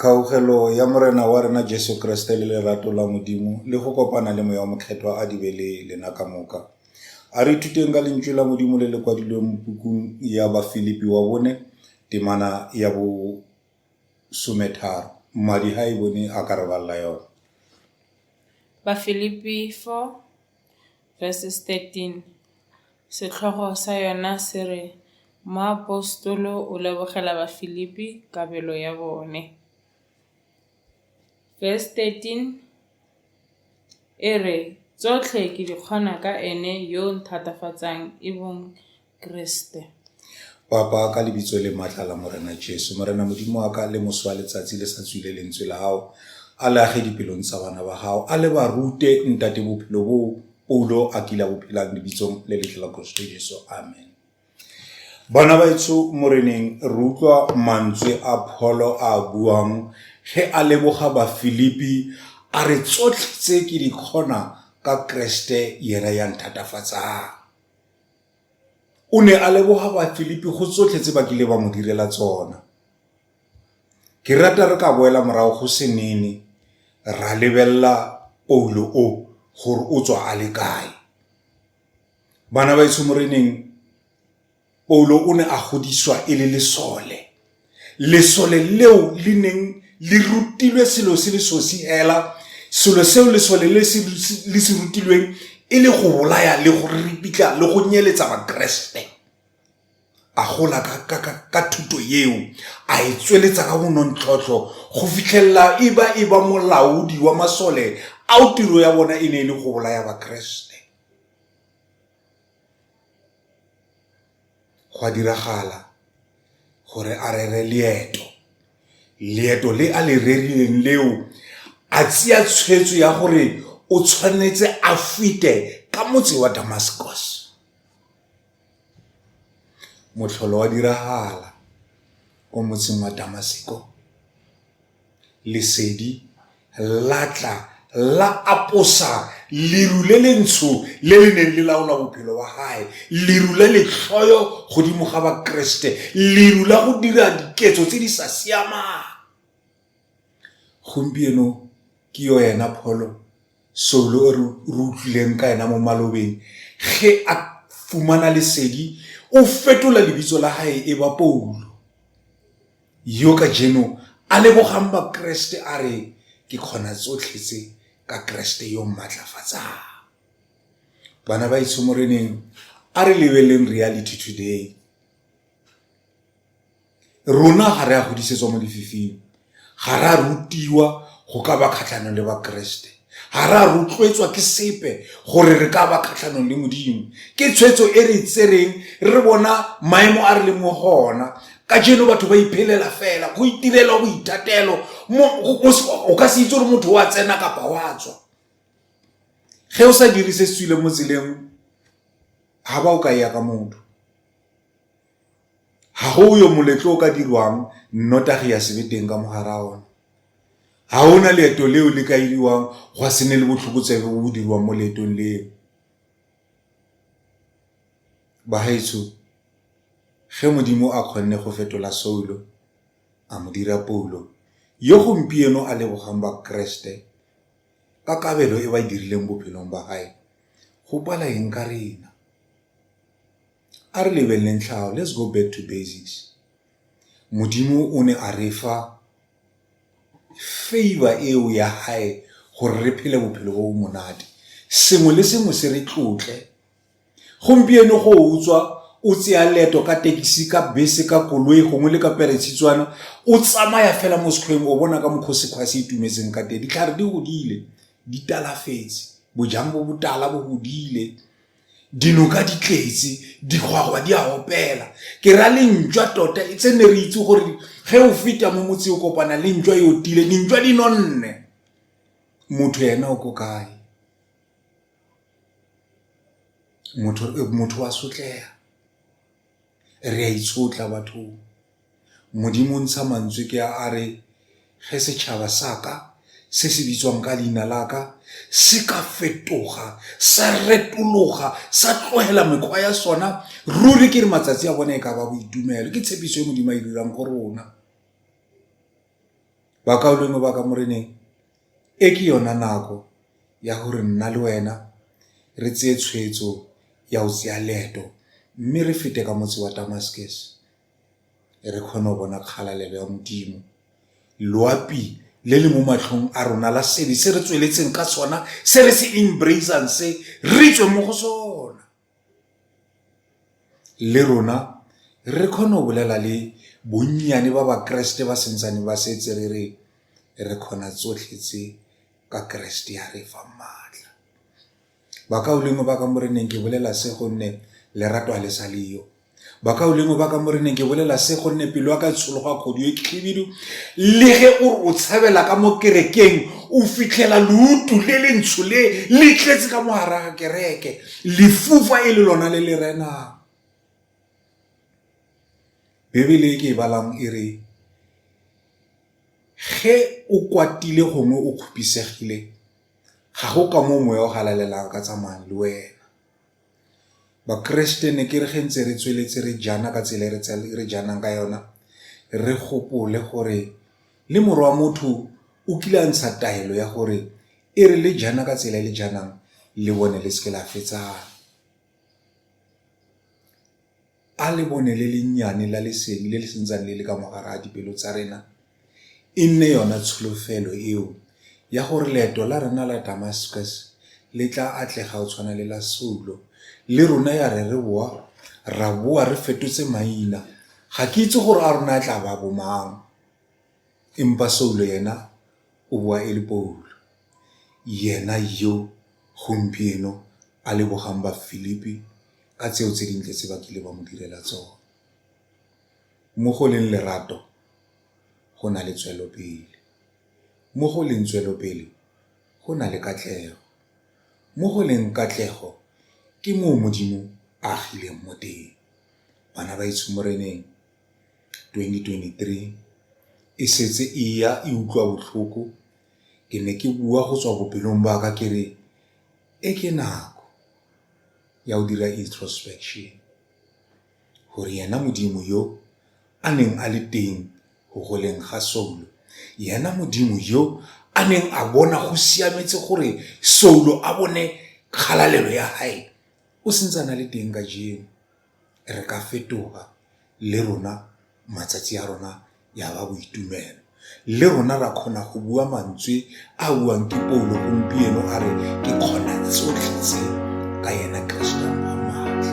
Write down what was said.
Kgaogelo ya Morena wa rena Jesu Kriste le lerato la Modimo le go kopana le Moya wa Mokgethwa a di be le lena ka moka. A re ithuteng ka lentswe la Modimo le le kwadilweng mo pukung ya Bafilipi wa bone temana ya bo sometharo. Mmadi ha e bone a ka re balla yone. Bafilipi 4 verses 13. Setlhogo sa yona se re, Moapostolo o lebogela Bafilipi kabelo ya bone. Verse 13 e re, Tsotlhe ke di kgona ka ene yo nthatafatsang e bong Keresete. Papa, ka lebitso le matla la Morena Jesu, Morena Modimo wa ka, le moso wa letsatsi le sa tswile lentswe la hao, a le age dipelong tsa bana ba hao, a le ba rute ntate bophelo boo Paulo a kile a bophelang lebitsong le letle la Kriste Jesu. Amen. Bana baetsho moreneng re utlwa mantswe a pholo a buang ge a leboga bafilipi a re tsotlhe tse ke di kgona ka kreste yena ya nthatafatsang O ne a leboga Bafilipi go tsotlhe tse ba kileng ba mo direla tsona. Ke rata re ka boela morago go senene ra lebelela Paulo o gore o tswa a le kae. Bana ba etsho moreneng Paulo o ne a godisiwa e le lesole. lesole leo le neng le rutilwe selo se le sosi hela selo seo lesole le le se rutilweng e le go bolaya le go ripitla le go nyeletsa bakeresete a gola ka thuto yeo a e tsweletsa ka bonontlhotlho go fitlhelela e ba e ba molaodi wa masole ao tiro ya bona e ne e le go bolaya bakeresete Gwa diragala gore a rere leeto. Leeto le a le rerileng leo, a tseya tshweetso ya gore o tshwanetse a fete ka motse wa Damascus. Motlholo wa diragala ko motseng wa Damasiko. Lesedi la tla la aposa leru le le ntsho le le neng le laola bophelo wa gae, leru la letlhoyo godimo ga Bakeresete, leru la go dira diketso tse di sa siamang. Gompieno ke yo ena Pholo Saulo o re utlwileng ka ena mo malobeng, ge a fumana lesedi o fetola lebitso la gae e ba Paulo. Yo kajeno a lebogang Bakeresete a re, Ke kgona tsotlhe tse ka Keresete yo o mmatlafatsang. Bana ba itsho Moreneng, a re lebeleleng Reality Today. Rona ga re a godisetswa mo lefifing, ga re a rutiwa go ka ba kgatlhanong le Bakeresete. Ga re a rotloetswa ke sepe gore re ka ba kgatlhanong le Modimo. Ke tshwetso e re tsereng re bona maemo a re leng mo go ona. Ka jeno batho ba iphelela fela, go itirelwa boithatelo. O ka se itse gore motho wa tsena kapa wa tswa. Ge o sa dire se se tswileng mo tseleng, ga ba o ka ya ka motho. Ga go yo moletlo o ka dirwang nnotagi ya se be teng ka mo gare ga one. Ga go na leeto leo le ka iriwang gwa se ne le botlhokotsebe bo bo dirwang mo leetong leo. Bagaetsho ge Modimo a kgonne go fetola Saulo a mo dira Paulo, yo gompieno a lebogang Bakeresete ka kabelo e ba e dirileng bophelong ba gae, go pala eng ka rena? A re lebeleleng tlhago. Let's go back to basics. Modimo o ne a re fa favor eo ya hae gore re phele bophelo bo bo monate. Sengwe le sengwe se re tlotle. Gompieno go utswa o tseya leeto ka tekisi ka bese ka koloi gongwe le ka peretshitswana o tsamaya fela mo sekgweng o bona ka mokgwa sekgwa se itumetseng ka teng ditlhare di godile di talafetse bojang bo botala bo godile Dinoka di tletse, digwagwa di a opela. Ke ra le ntšwa tota e tse ne re itse gore ge o feta mo motse o kopana le ntšwa e otile, dintšwa di nonne. Motho ena o ko kae? Motho eh, wa sotlega. Re a itshotla bathong. Modimo o ntsha mantswe ke a a re, Ge setšhaba sa ka se se bitswang ka leina la ka se ka fetoga sa retologa sa tlogela mekgwa ya sona ruri ke re matsatsi a bone e ka ba boitumelo ke tshepiso e modimo a e dirang go rona bakaulengwe ba ka moreneng E ke yona nako ya gore nna le wena re tseye tshwetso ya go tseya leeto mme re fete ka motse wa Damascus re kgone go bona kgalalelo ya Modimo. Loapi le le mo matlhong a rona la sebe se re tsweletseng ka sona se re se embrace-ang se, re tswe mo go sona. le rona re kgone go bolela le bonnyane ba bakeresete ba santsane ba setse re re re kgona tsotlhe tse ka keresete ya re fa maatla bakaulengwe ba ka moreneng ke bolela se gonne lerato a le sa leyo bakaulengwe ba ka moreneng ke bolela se gonne pelo ya ka e tshologa kgodu e khibidu le ge o re o tshabela ka mo kerekeng o fitlhela leutu le le ntsho le le tletse ka mogara ga kereke lefufa e le lona le le renang bebele e ke e balang e re ge o kwatile gongwe o kgopisegile ga go ka mo moya o galalelang ka tsamayang le wena Bakeresete ne ke re ge ntse re tsweletse re jana ka tsela e re janang ka yona re gopole gore le morwa wa motho o kile a ntsha taelo ya gore e re le jana ka tsela e le janang le bone le seke la fetsana A lebone le lennyane la lesedi le le sentsang le le ka mogare ga dipelo tsa rena e nne yona tsholofelo eo ya gore leeto la rena la Damascus le tla atlega o tshwana le la Saulo le rona ya re re boa ra boa re fetotse maina ga ke itse gore a rona a tla ba bomang Empa Saulo yena o boa e le Paulo, yena yo gompieno a lebogang Bafilipi ka tseo tse dintle tse ba kile ba mo direla tsone. Mo go leng lerato go na le tswelopele, mo go leng tswelopele go na le katlego, mo go leng katlego ke moo Modimo a agileng mo teng. Bana ba etsho Moreneng. 2023 e setse e ya e utlwa botlhoko ke ne ke bua go tswa bopelong ba ka ke re e ke nako ya go dira introspection gore yena modimo yo a neng a le teng go goleng ga soulo yena modimo yo a neng a bona go siametse gore soulo a bone kgalalelo ya gae o sentse a na le teng ka jeno re ka fetoga le rona matsatsi a rona ya ba boitumelo. Le rona ra kgona go bua mantswe a buang ke Paulo gompieno a re ke kgona tsotlhe tse ka yena Kristo a maatla.